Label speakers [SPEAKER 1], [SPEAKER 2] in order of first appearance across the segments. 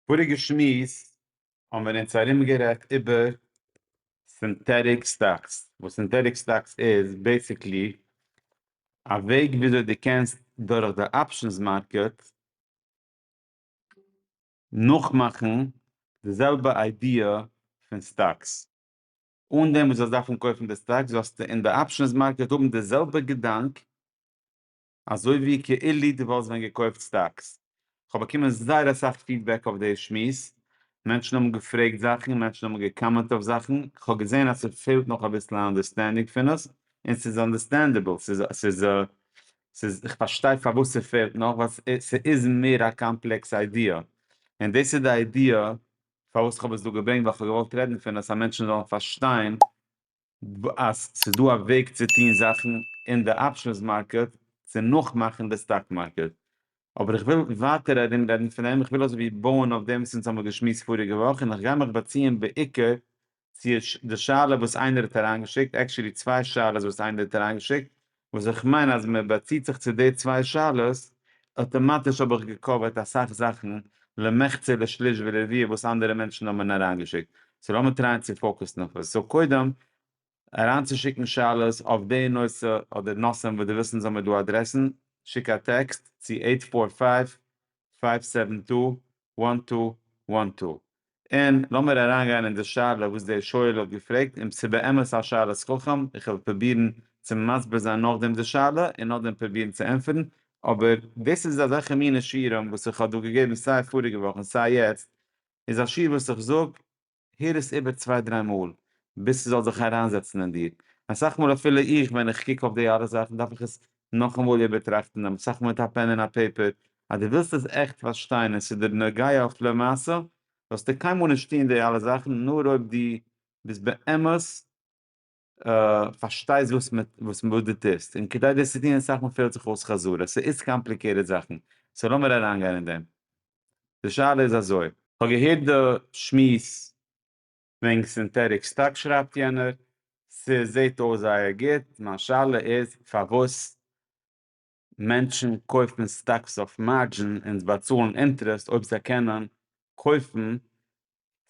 [SPEAKER 1] פאריגע שמועס האבן מיר אונז ארום גערעדט איבער סינטעטיק סטאקס, וואס סינטעטיק סטאקס איז בעסיקלי א וועג וויאזוי דו קענסט דורך די אפשענס מארקעט נאכמאכן די זעלבע איידיע פון סטאקס, אן דעם וואס דו זאלסט דארפן קויפן די סטאקס זאלסטו אין די אפשענס מארקעט האבן די זעלבע געדאנק אזוי ווי כאילו דו וואלסט ווען געקויפט סטאקס. כ'האב באקומען זייער אסאך פידבעק אויף די שמועס, מענטשן האבן געפרעגט זאכן, מענטשן האבן געקאמענט אויף זאכן, כ'האב געזען אז ס'פעלט נאך אביסל א אנדערסטענדינג פון עס, און ס'איז אנדערסטענדעבל, ס'איז ס'איז איך פארשטיי פארוואס ס'פעלט נאך, ווייל ס'איז מער א קאמפלעקס איידיע, און דאס איז די איידיע פארוואס כ'האב עס דא געברענגט, ווייל כ'האב געוואלט רעדן פון עס אז מענטשן זאלן פארשטיין ב אז ס'איז דא א וועג צו טוהן זאכן אין די אפשענס מארקעט צו נאכמאכן די סטאק מארקעט. אבער איך וויל ווייטער ארום רעדן פון דעם, איך וויל אזוי ווי בויען אויף דעם וואס אונז האמיר געשמועסט פאריגע וואך, און איך גיי מיך באציען בעיקר צו די שאלה וואס איינער האט אריינגעשיקט, עקטשולי צוויי שאלות וואס איינער האט אריינגעשיקט, וואס איך מיין אז מען באציט זיך צו די צוויי שאלות, אטאמאטיש האב איך געקאווערט אסאך זאכן למחצה לשליש ולרביע וואס אנדערע מענטשן האבן אריינגעשיקט, סאו לאמיר טרייען צו פאוקוסן אויף עס, סאו קודם אריינצושיקן שאלות אויף די נושא אדער נושאים וואס דו ווילסט אונז האבן דא אדרעסן, שיק א טעקסט צו עיט פאר פייוו פייוו סעווען טו וואן טו וואן טו. און לאמיר אריינגיין אין די שאלה וואס דער שואל האט געפרעגט און ס'באמת א שאלת חכם, איך וועל פרובירן צו מסביר זיין נאכדעם די שאלה און נאכדעם פרובירן צו ענטפערן, אבער דאס איז אזעלכע מינע שיעורים וואס איך האב דא געגעבן סיי פאריגע וואך און סיי יעצט, איז א שיעור וואס איך זאג הער עס איבער צוויי דריי מאל ביז ס'זאל זיך אריינזעצן אין דיר, אסאך מאל אפילו איך ווען איך קוק אויף די אלע זאכן דארף איך עס נאכאמאל איבערטראכטן דעם, אסאך מאל מיט א פען און א פעיפער, אז דו ווילסט עס עכט פארשטיין און ס'איז דיר נוגע אויף למעשה, זאלסטו קיינמאל נישט טון די אלע זאכן נאר אויב דו ביסט באמת. פארשטייסט וואס מען וואס מען וואס דו טוסט און כדי דאס צו טון אסאך מאל פעלט זיך אויס חזרה ס'איז קאמפליקעיטעד זאכן סאו לאמיר אריין גיין אין דעם די שאלה איז אזוי. כ'האב געהערט די שמועס וועגן סינטעטיק סטאק שרייבט יענער, ס'זעהט אויס זייער גוט, מיין שאלה איז פארוואס מענטשן קויפן סטאקס אויף מארדזשין און באצאלן אינטערעסט אויב זיי קענען קויפן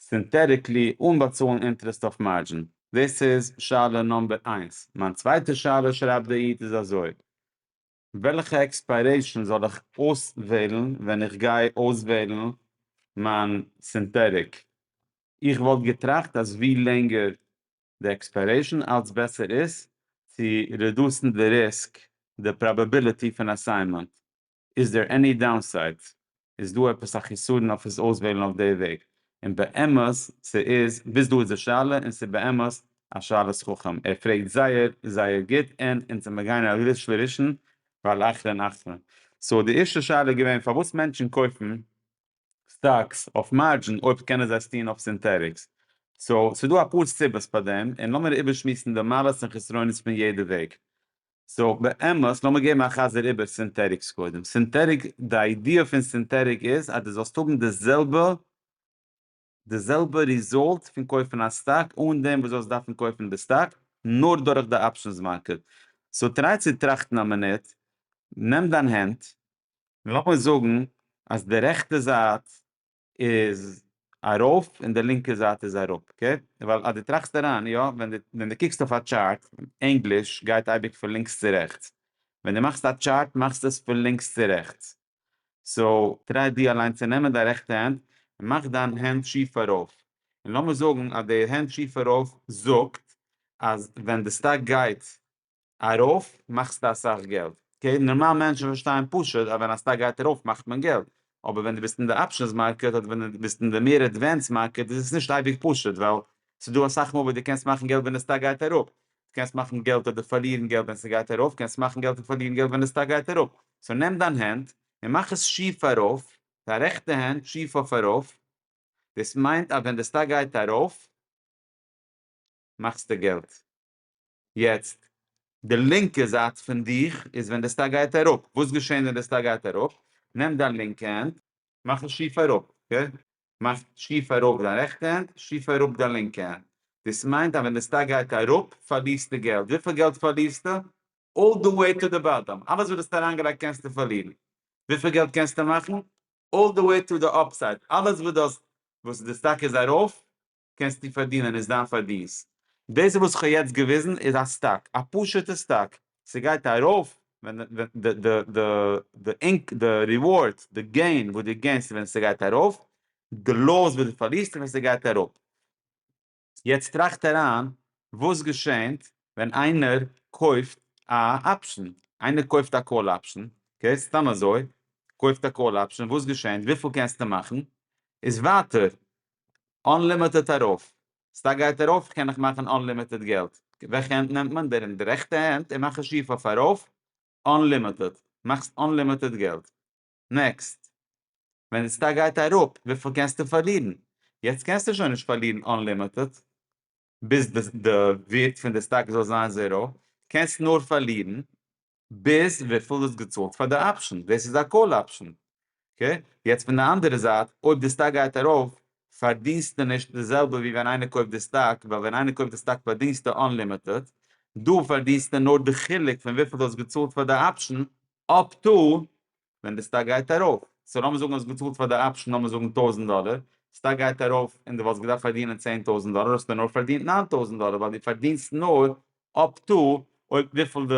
[SPEAKER 1] סינטעטיקלי אן באצאלן אינטערעסט אויף מארדזשין. דאס איז שאלה נאמבער איינס. מיין צווייטע שאלה שרייבט דער איד איז אזוי, וועלכע עקספיירעישאן זאל איך אויסוועלן ווען איך גיי אויסוועלן מיין סינטעטיק? איך וואלט געטראכט אז ווי לענגער די עקספיירעישאן אלץ בעסער איז צו רעדוסן די ריסק, די פראבעביליטי פון אסיינמענט. איז דער עני דאונסיידס? איז דא עפעס א חיסרון אויף עס אויסוועלן אויף די וועג? און באמת ס'איז, ביז דא איז די שאלה, און ס'איז באמת א שאלת חכם. ער פרעגט זייער זייער גוט און אונז זעמיר גייען א ריש לראשון ועל אחרון אחרון. סאו די ערשטע שאלה איז געווען פארוואס מענטשן קויפן סטאקס אויף מארדזשין אויב קענען זיי עס טוהן אויף סינטעטיקס. סאו ס'דא אפאר סיבות פאר דעם און לאמיר איבערשמועסן די מעלות און חסרונות פון יעדע וועג. סאו באמת לאמיר געבן א חזר איבער סינטעטיקס קודם. סינטעטיק די איידיע פון סינטעטיק איז אז דו זאלסט האבן די זעלבע. די זעלבע ריזאלט פון קויפן א סטאק אן דעם וואס זאלסט דארפן קויפן די סטאק נאר דורך די אפשענס מארקעט, סאו טריי צו טראכטן א מינוט, נעם דיין הענט, און לאמיר זאגן אז די רעכטע זייט איז ארויף און די לינקע זייט איז אראפ, אקעי? ווייל אז דו טראכסט אריין, יא, ווען דו קוקסט אויף א טשארט, ענגליש, גייט אייביג פון לינקס צו רעכטס, ווען דו מאכסט א טשארט מאכסטו עס פון לינקס צו רעכטס, סאו טריי דו אליין צו נעמען דיין רעכטע הענט און מאך דיין הענט שיף ארויף, און לאמיר זאגן אז די הענט שיף ארויף זאגט אז ווען די סטאק גייט ארויף מאכסטו אסאך געלט, אקעי נארמאל מענטשן פארשטייען פשוט אז ווען א סטאק גייט ארויף מאכט מען געלט, אבער ווען דו ביסט אין די אפשענס מארקעט אדער ווען דו ביסט אין די מער עדווענסד מארקעט איז עס נישט אייביג פשוט ווייל ס'דא אסאך מאל וואס דו קענסט מאכן געלט ווען די סטאק גייט אראפ דו קענסט מאכן געלט אדער פארלירן געלט ווען ס'גייט ארויף, קענסט מאכן געלט און פארלירן געלט ווען די סטאק גייט אראפ, סאו נעם דיין הענט און מאך עס שיף ארויף, דיין רעכטע הענט שיף אויף ארויף, דאס מיינט אז ווען די סטאק גייט ארויף מאכסטו געלט, יעצט די לינקע זייט פון דיך איז ווען די סטאק גייט אראפ, וואס געשעהן ווען די סטאק גייט אראפ, נעם דיין לינקע הענט מאך עס שיף אראפ, אקעי? מאכט שיף ארויף דיין רעכטע הענט, שיף אראפ דיין לינקע הענט. דאס מיינט אז ווען די סטאק גייט אראפ פארלירסטו געלט. וויפיל געלט פארלירסטו? אלל די וועי טו די באטאם. אלעס וואס דו האסט אריינגעלייגט קענסטו פארלירן. וויפיל געלט קענסטו מאכן? אלל די וועי טו די אפסייד. אלעס וואס דו האסט וואס די סטאק איז ארויף קענסטו פארדינען איז דיין פארדינסט. דאס וואס איך האב יעצט געוויזן איז א סטאק, א פשוט'ע סטאק, ס'גייט ארויף ווען די ריווארד, די געין וואס דו געינסט ווען ס'גייט ארויף, די לאס וואס דו פארלירסט ווען ס'גייט אראפ. יעצט טראכט אריין וואס געשענט ווען איינער קויפט א אפשן, איינער קויפט א קאל אפשן, אקעי, סתם אזוי, קויפט א קאל אפשן, וואס געשענט, וויפיל קענסטו מאכן, איז ווייטער אנלימיטעד ארויף, סטאק גייט ארויף איך קען נאך מאכן אנלימיטעד געלט, וועלכע הענט נעמט מען? דער אין די רעכטע הענט און מאך א שיף אויף ארויף, אנלימיטעד, מאכסט אנלימיטעד געלט, נעקסט, ווען די סטאק גייט אראפ וויפיל קענסטו פארלירן? יעצט קענסטו שוין נישט פארלירן אנלימיטעד, ביז די ווערט פון די סטאק זאל זיין זעראו, קענסט נאר פארלירן, ביז וויפיל איז געצאלט פאר די אפשן, דאס איז א קאל אפשן, אקעי? יעצט פון די אנדערע זייט, אויב די סטאק גייט ארויף, פארדינסטו נישט די זעלבע ווי ווען איינער קויפט די סטאק, ווייל ווען איינער קויפט די סטאק פארדינסטו אנלימיטעד, דא פארדינסטו נאר די חילוק פון וויפיל דו האסט געצאלט פאר די אפשן, אפטו ווען די סטאק גייט ארויף, סאו לאמיר זאגן האסט געצאלט פאר די אפשן לאמיר זאגן טויזנט דאלער, סטאק גייט ארויף און די וואלסט געדארפט פארדינען צען טויזנט דאלער האסטו נאר פארדינט ניין טויזנט דאלער ווייל די פארדינסט נאר אפ טו אויב וויפיל די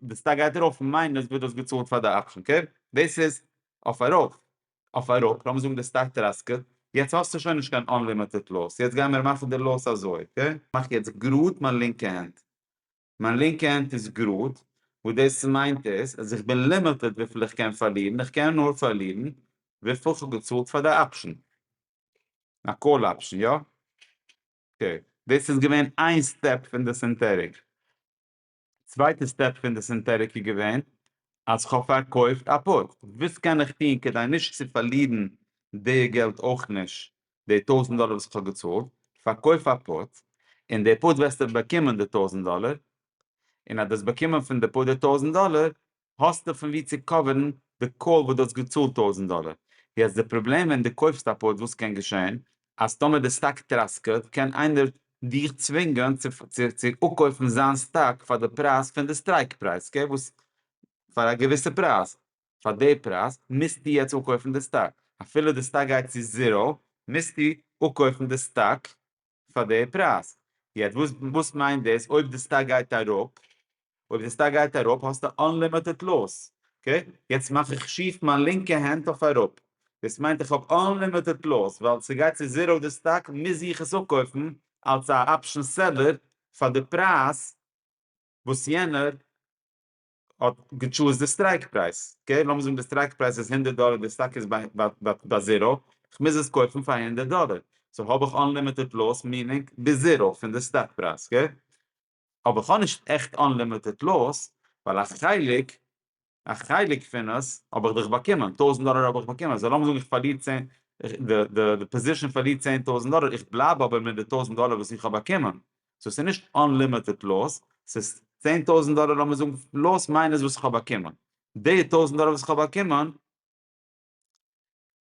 [SPEAKER 1] די סטאק גייט ארויף מיינוס וואס די האסט געצאלט פאר די אפשן קערפ, דאס איז אויף ארויף, אויף אראפ לאמיר זאגן די סטאק טראסקעט יעצט האסטו שוין נישט קיין אנלימיטעט לאס יעצט גיימיר מאכן די לאס אזוי אקעי. מאך יעצט גראד מיין לינקע הענט. מיין לינקע הענט איז גראד, וואס דאס מיינט איז אז איך בין לימיטעד וויפיל איך קען פארלירן, איך קען נאר פארלירן וויפיל איך האב געצאלט פאר די אפשן, א קאל אפשן, יא? אקעי, דאס איז געווען איין סטעפ פון די סינטעטיק. צווייטע סטעפ פון די סינטעטיק איז געווען אז איך האב פארקויפט א פוט, וואס קען איך טון כדי נישט צו פארלירן די געלט אויך נישט די טויזנט דאלער וואס איך האב געצאלט, פארקויף א פארט, און די פארט וועסטו באקומען די טויזנט דאלער, און אז דו האסט באקומען פון די פארט די טויזנט דאלער, האסטו פון וואו צו קאווערן די קאל וואס דו האסט געצאלט טויזנט דאלער. יעצט די פראבלעם ווען דו קויפסט א פארט וואס קען געשען, אז טאמער די סטאק טראסקעט, קען איינער דיך צווינגען צו אפקויפן זיין סטאק פאר די פרייז פון די סטרייק פרייז, אקעי, וואס פאר א געוויסע פרייז, פאר די פרייז מוזטו יעצט אפקויפן די סטאק, אפילו די סטאק גייט צו זיראו מוזטו אפקויפן די סטאק פאר די פרייז, יעצט וואס מיינט דאס אויב די סטאק גייט אראפ, אויב די סטאק גייט אראפ האסטו אנלימיטעד לאס, אקעי, יעצט מאך איך שיף מיין לינקע הענט אויף אראפ, דאס מיינט איך האב אנלימיטעד לאס, ווייל ס'גייט צו זיראו די סטאק מוז איך עס אפקויפן אלס א אפשן סעללער פאר די פרייז וואס יענער האט געטשוזט די סטרייק פרייז, אקעי לאמיר זאגן די סטרייק פרייז איז הונדערט דאלער די סטאק איז ביי זירא, איך מוז עס קויפן פאר הונדערט דאלער, סאו האב איך אנלימיטעד לאס מינינג ביז זירא פון די סטאק פרייז, אקעי? אבער איך האב נישט עכט אנלימיטעד לאס ווייל א חלק א חלק פון עס האב איך דאך באקומען, טויזנט דאלער האב איך באקומען, סאו לאמיר זאגן איך פארליר צען די פאזישאן פארלירט צען טויזנט דאלער איך בלייב אבער מיט די טויזנט דאלער וואס איך האב באקומען, סאו ס'איז נישט אנלימיטעד לאס, ס'איז צען טויזנט דאלער לאמיר זאגן פלאס מיינוס וואס כ'האב באקומען, די טויזנט דאלער וואס כ'האב באקומען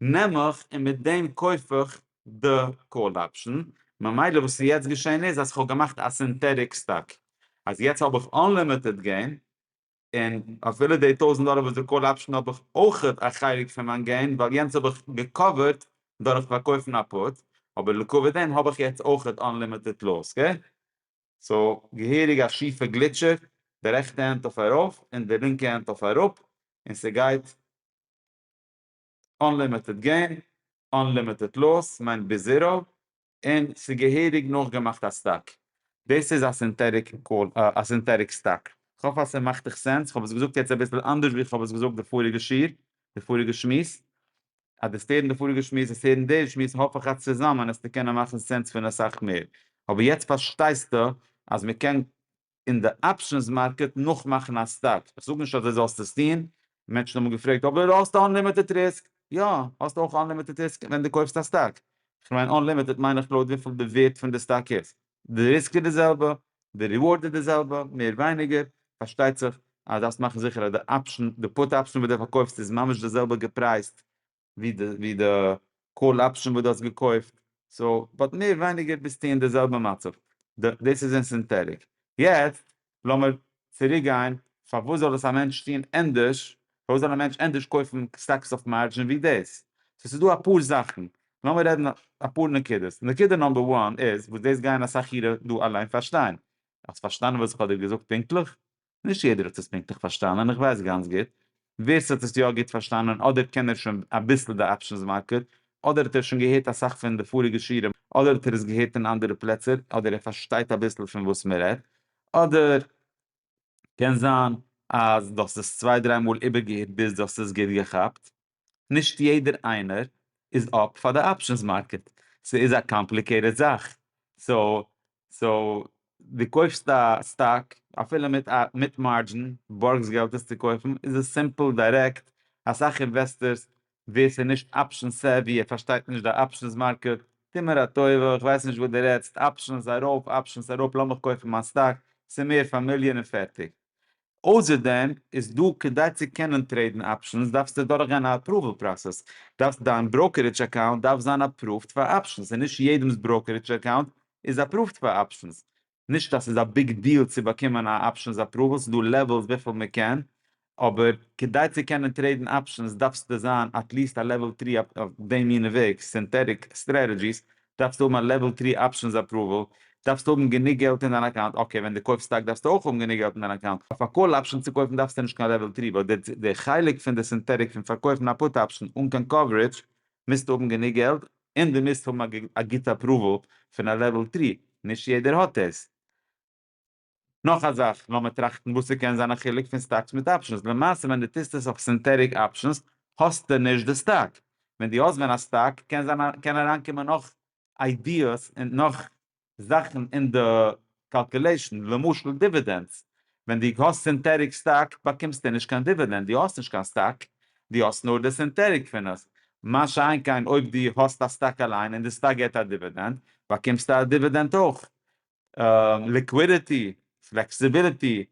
[SPEAKER 1] נעם איך און מיט דעם קויף איך די קאל אפשן, ממילא וואס איז יעצט געשען איז אז כ'האב געמאכט א סינטעטיק סטאק, אז יעצט האב איך אנלימיטעד געים, און אפילו די טויזנט דאלער וואס די קאל אפשן האב איך אויך א חלק פון מיין געין ווייל יענץ האב איך געקאווערט דורך פארקויפן א פוט אבער לקויע דעם האב איך יעצט אויך אנלימיטעד לאס אקעי סאו געהעריג א שיפע גליטשער די רעכטע הענט אויף ארויף און די לינקע הענט אויף אראפ און ס'גייט אנלימיטעד געים, אנלימיטעד לאס מיינט ביז זירא, און ס'איז געהעריג נאכגעמאכט א סטאק. דאס איז א סינטעטיק קאל, א סינטעטיק סטאק. כ'האף אז ס'מאכט דיך סענס. כ'האב עס געזאגט יעצט אביסל אנדערש ווי כ'האב עס געזאגט די פאריגע שיעור, די פאריגע שמועס. אז דו האסט הערן די פאריגע שמועס האסטו הערן די שמועס, האף איך אז צוזאמען עסטו קענען מאכן סענס פון אסאך מער. אבער יעצט פארשטייסטו אז מ'קען אין די אפשענס מארקעט נאך מאכן א סטאפ, איך זאג נישט אז דו זאלסט עס טון, מענטשן האבן געפרעגט אבער האסט אנלימיטעד ריסק? יא, האסט אויך אנלימיטעד ריסק ווען דו קויפסט א סטאק, איך מיין אנלימיטעד מיין איך לויט וויפיל די ווערט פון די סטאק איז, די ריסק איז די זעלבע, די ריווארד איז די זעלבע, מער ווייניגער, פארשטייט זיך אז דארפסט מאכן זיכער אז די אפשען, די פוט אפשען וואס דו פארקויפסט איז ממש די זעלבע געפרייזט ווי די קאל אפשען וואס דו האסט געקויפט, סאו באט מער ווייניגער ביסטו אין די זעלבע מצב, דאס איז אין סינטעטיק, יעצט לאמיר צוריק גיין, פארוואס זאל עס א מענטש טון ענדערש, פארוואס זאל א מענטש ענדערש קויפן סטאקס אויף מארדזשין ווי דאס, סאו ס'איז דא אפאר זאכן, לאמיר רעדן אפאר נקודות, נקודה נאמבער וואן איז, וואס דאס גייען אסאך אירע דא אליין פארשטיין, האסט פארשטאנען וואס איך האב דיר געזאגט פונקטליך? נישט יעדער האט עס פונקטליך פארשטאנען, איך ווייס גאנץ גוט ווער ס'האט עס יא גוט פארשטאנען, אדער קען ער שוין אביסל די אפשענס מארקעט, אדער האט ער שוין געהערט אסאך פון די פאריגע שיעורים, אדער האט ער עס געהערט אין אנדערע פלעצער, אדער ער פארשטייט אביסל פון וואס מען רעדט, אדער קען זיין אז דו האסט עס צוויי דריי מאל איבערגעהערט ביז דו האסט עס גוט געכאפט. נישט יעדער איינער איז אפט פאר די אפשענס מארקעט, ס'איז א קאמפליקעיטעד זאך, סאו דו קויפסט א סטאק אפילו מיט מארדזשין, בארגסט געלט עס צו קויפן, איז עס סימפל, דירעקט, אסאך אינוועסטערס ווער ס'איז נישט אפשען סעווי ער פארשטייט נישט די אפשענס מארקעט, טו מיר א טובה איך ווייס נישט וואס דו רעדסט, אפשענס ארויף אפשענס אראפ לאמיך קויפן מיין סטאק, ס'איז מער פאמיליער און פערטיג, אויסער דעם איז דא, כדי צו קענען טרעידן אפשענס דארפסטו דורך גיין א אפראוועל פראסעס, דארפסט דיין בראוקערידזש אקאונט דארף זיין אפראווד פאר אפשענס, און נישט יעדעמס בראוקערידזש אקאונט איז אפראווד פאר אפשענס, נישט אז ס'איז א ביג דיעל צו באקומען א אפשענס אפראוועל, ס'איז דא לעוועלס וויפיל מען קען, אבער כדי צו קענען טרעידן אפשענס דארפסטו זיין עטליעסט א לעוועל טרי אויף די מינע וועגס, סינטעטיק סטרעטעדזשיס, דארפסטו האבן א לעוועל טרי אפשענס אפראוועל, דארפסטו האבן גענוג געלט אין דיין אקאונט, אקעי ווען דו קויפסט סטאק דארפסטו אויך האבן גענוג געלט אין דיין אקאונט, אויף א קאל אפשען צו קויפן דארפסטו נישט קיין לעוועל טרי, באט די חלק פון די סינטעטיק פון פארקויפן א פוט אפשען אן קיין קאווערידזש מוזטו האבן גענוג געלט און דו מוזט האבן א גוטע אפראוועל פון א לעוועל טרי, נישט יעדער האט דאס. נאך א זאך, לאמיר טראכטן וואס ס'קען זיין א חילוק פון סטאקס מיט אפשענס, למעשה ווען דו טוסט עס אויף סינטעטיק אפשענס האסטו נישט די סטאק, ווען דו האסט ווען א סטאק קען זיין קען אריינקומען נאך איידיעס און נאך זאכן אין די קאלקולעישן, למשל דיווידענדס, ווען דו האסט סינטעטיק סטאק באקומסטו נישט קיין דיווידענד, דו האסט נישט קיין סטאק, דו האסט נאר די סינטעטיק פון עס, מה שאין כן אויב דו האסט א סטאק אליין און די סטאק געבט א דיווידענד באקומסטו א דיווידענד אויך, ליקווידיטי, פלעקסיביליטי,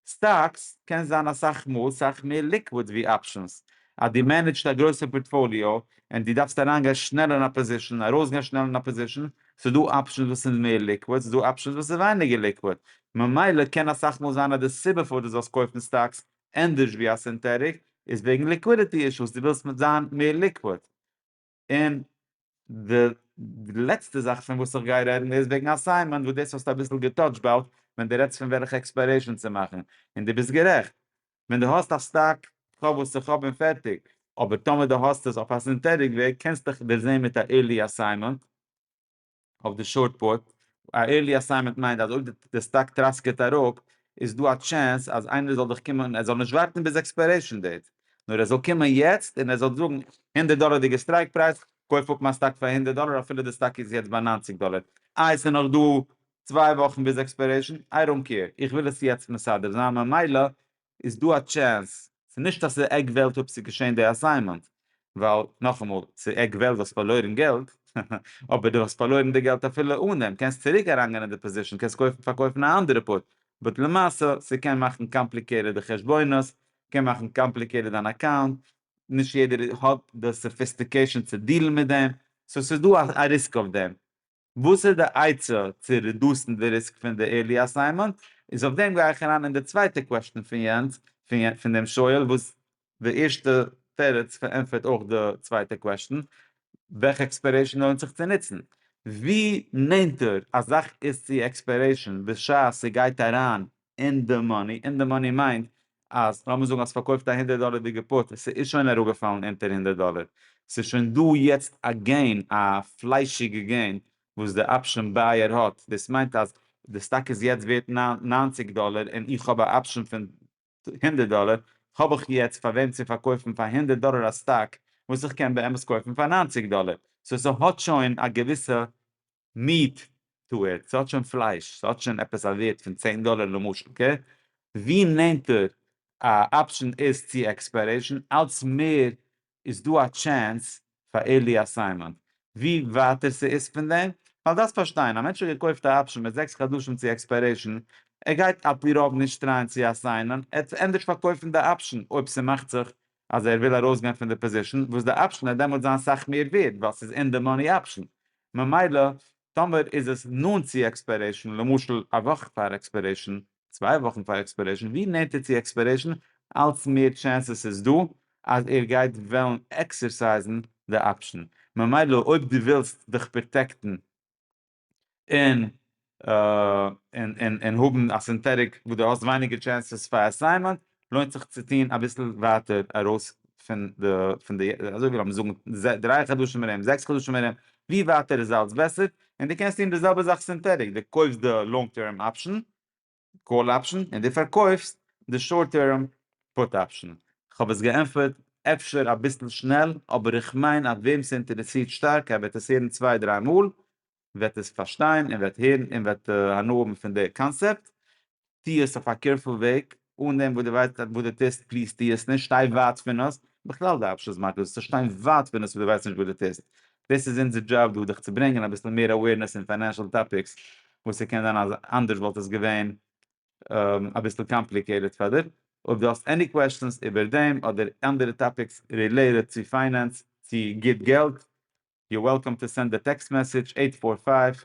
[SPEAKER 1] סטאקס קען זיין אסאך מאל סאך מער ליקוויד ווי אפשענס, אז דו מענעדזשט א גרויסע פארטפאליאו און דו דארפסט אריינגיין שנעל אין א פאזישן און ארויסגיין שנעל אין א פאזישן, ס'איז דא אפשענס וואס איז מער ליקוויד, ס'איז דא אפשענס וואס איז ווייניגער ליקוויד, ממילא קען אסאך מאל זיין אז די סיבה פארוואס דו זאלסט קויפן סטאקס ענדערש ווי א סינטעטיק איז וועגן ליקווידיטי אישוס, דו ווילסט זיין מער ליקוויד. און די לעצטע זאך פון וואס איך גיי רעדן איז וועגן אסיינמענט וואס דאס האסטו אביסל געטאטשט באלד ווען די רעדסט פון וועלכע עקספיירעישן צו מאכן און די ביסט גערעכט ווען די האסט א סטאק קאוו וואס איך האב און פערטיג אבער טאמער די האסט עס אויף א סינטעטיק וועג קענסטעך דערזעהן מיט א עירלי אסיינמענט. אויף די שארט פוט, א ערלי אסיימענט מיינט אז אויב די סטאק טראסקעט אראפ איז דא א טשענס אז איינער זאל דיך קומען, ער זאל נישט ווארטן ביז עקספיירעישן דעיט, נאר ער זאל קומען יעצט און ער זאל זאגן, הונדערט דאלערדיגע סטרייק פרייז, קויף אפ מיין סטאק פאר הונדערט דאלער אפילו די סטאק איז יעצט ביי נײַנציק דאלער, איי עס איז נאך דא צוויי וואכן ביז עקספיירעישן, איי דאנט קעיר, איך וויל עס יעצט מסדר זיין ממילא איז דא א טשענס, ס'איז נישט אז ס'איז עג וועלט אויב ס'איז געשען די אסיימענט, ווייל נאכאמאל ס'איז עג וועלט ווייל ס'האט פארלוירן געלט, אבער דו האסט פארלוירן די געלט אפילו אן דעם, קענסט צוריק אריינגיין אין די פאזישן, קענסט קויפן פארקויפן א אנדערע פאוט, באט למעשה ס'קען מאכן קאמפליקעטעד די חשבונות, קען מאכן קאמפליקעטעד דיין אקאונט, נישט יעדער האט די סאפיסטיקעישן צו דיעלן מיט דעם, סאו ס'איז דא א ריסק אויף דעם, וואס איז די עצה צו רעדוסן די ריסק פון די ערלי אסיינמענט? איז אויף דעם גיי איך אריין אין די צווייטע קוועשטען פון יענץ, פון דעם שואל וואס די ערשטע תירוץ פארענטפערט אויך די צווייטע קוועשטען, וועלכע עקספיירעישאן לוינט זיך צו נוצן? ווי נענטער א זאך איז צו עקספיירעישאן בשעת ס'גייט אריין אין די מאני, אין די מאני מיינט אז לאמיר זאגן אז פארקויפט א הונדערט דאלערדיגע פוט און ס'איז שוין אראפגעפאלן אונטער הונדערט דאלער, ס'איז שוין דא יעצט א געין, א פליישיגע געין וואס די אפשען בייער האט, דאס מיינט אז די סטאק איז יעצט ווערט ניינציג דאלער און איך האב א אפשען פון הונדערט דאלער, האב איך יעצט פאר וועם צו פארקויפן פאר הונדערט דאלער א סטאק וואס איך קען באמת קויפן פאר ניינציג דאלער, סאו ס'האט שוין א געוויסע מיעט טו איט, ס'האט שוין פלייש, ס'האט שוין עפעס א ווערד פון צען דאלער למשל כ, ווי נענטער א אפשען איז צו עקספיירעישן אלץ מער איז דא א טשענס פאר עירלי אסיינמענט, ווי ווייטער ס'איז פון דעם, ווייל דארפסט פארשטיין, א מענטש האט געקויפט א אפשען מיט זעקס חדשים צו עקספיירעישן, ער גייט על פי רוב נישט טרייען צו אסיינען, ער וועט ענדערש פארקויפן די אפשען אויב ס'מאכט זיך אז ער וויל ארויסגיין פון די פאזישן וואס די אפשן וועט דעמאלטס זיין סאך מער ווערד ווייל ס'איז אין די מאני אפשן ממילא טאמער איז עס נאנט צו עקספיירעישן למשל א וואך פאר עקספיירעישן צוויי וואכן פאר עקספיירעישן ווי נענטער צו עקספיירעישן אלץ מער טשענסעס איז דא אז ער גייט וועלן עקסערסייזן די אפשן ממילא אויב דו ווילסט דיך פראטעקטן און און האבן א סינטעטיק וואס דו האסט ווייניגער טשענסעס פאר אסיינמענט לוינט זיך צו טון אביסל ווייטער ארויס פון די פון די אזוי ווי לאמיר זאגן דרײַ חדשים ארום זעקס חדשים ארום ווי ווייטער איז אלץ בעסער און דו קענסט טון די זעלבע זאך סינטעטיק דו קויפסט די לאנג טערם אפשען קאל אפשן און דו פארקויפסט די שארט טערם פוט אפשן. כ'האב עס געענטפערט אפשר אביסל שנעל, אבער איך מיין אז וועם ס'אינטערעסירט שטארק ער וועט עס הערן צוויי דריי מאל, וועט עס פארשטיין און וועט הערן און וועט הנאה האבן פון די קאנסעפט. טו עס אויף א קעירפול וועג, אן דעם וואס דו ווייסט וואס דו טוסט, פליז טו עס נישט, שטיי ווייט פון עס, בכלל די אפשן איז מגעיל, זאלסט שטיין ווייט פון עס וואס דו ווייסט נישט וואס דו טוסט, דאס איז אונזער דזשאב דא, דיך צו ברענגען אביסל מער אווערנעס אין פיינענשעל טאפיקס, וואס ס'קען זיין אז אנדערש וואלט עס געווען אביסל קאמפליקעיטעד פאר דיר. אויב דו האסט עני קוועשאנס איבער דעם אדער אנדערע טאפיקס רילעיטעד צו פיינענס, צו גוט געלט, יו אר וועלקאם טו סענד א טעקסט מעסעדזש, עיט פאר פייוו,